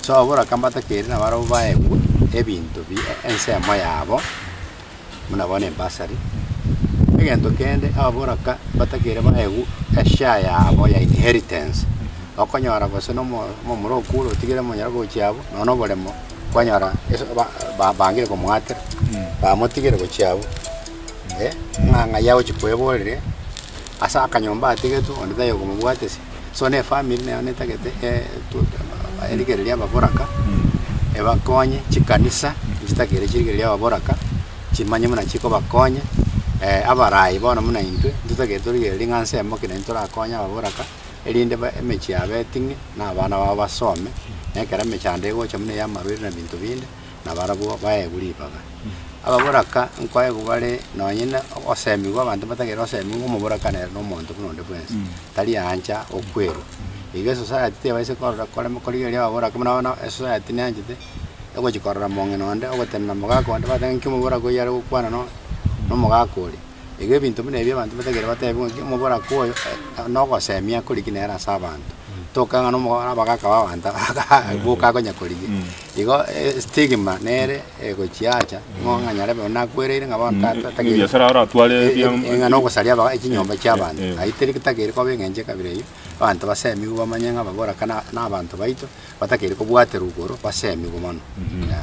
Sobora kambato keria nabarabwo baegwe ebinto bi ensemo yabo, buna bono embasari. Egento kende ababoraka batakeire baegwe eshare yabo ya inheritance. Okonyora gose nomo omomura okure otigire omonyara gochia abwo, nonya oboremo kwanyora ase ba- ba- bangire komoatera, bamotigire gochia abwo, eh, ng'a ng'ai agochia kweborire ase akanyomba atigetwe onde taiyo komobwatisia. So nefamiri nero netagete erigereria ababoraka ebakonye, chikanisa nchitagere chirigereria ababoraka chimanye buna chikobakonya. Abarai bono buna intwe ntitagete torigereria ng'a nse emo ki naintwe torakonye ababoraka, erinde emechie yabo eting'e na abana babo basome, na ekero emechando egocha buna ey'amarwaire na binto binde, nabarabwo baegwe ribaga. Ababoraka nkoegwa bare nonye na ogoseemigwa abanto batagere oseemigwe ng'a omoboraka nere nomonto buna onde bwensi. tari aancha okwerwa. Iga esosayati tebaisa korora korema koria erio ababore ake, buna bono esosayati neanchete egochia korora mong'ina onde ogotenena omogaka onde, bateba ng'aki omobora koyio are gokwana no nomogaka oria. Iga ebinto buna ebi abanto batagere batebiwe ng'aki omobora ko oyo nogosemia akoriki nere ase abanto, toka ng'a nomo abagaka ba abanto boka akonya korigia. Igo estigma nere. egochiacha, ng'o ng'anyare bono nakwereire ng'a bono tata Ng'a tagere Nyasae aratware e- ebiamo e- ng'a nogosaria aba- chinyomba chi'abanto Eh. ai teri tagere koba eng'encho ya kabere eyio abanto basemigwe bamanye ng'a baboraka na- nabanto baito batakeri kobwaterwa igoro basemigwe mono Yeah.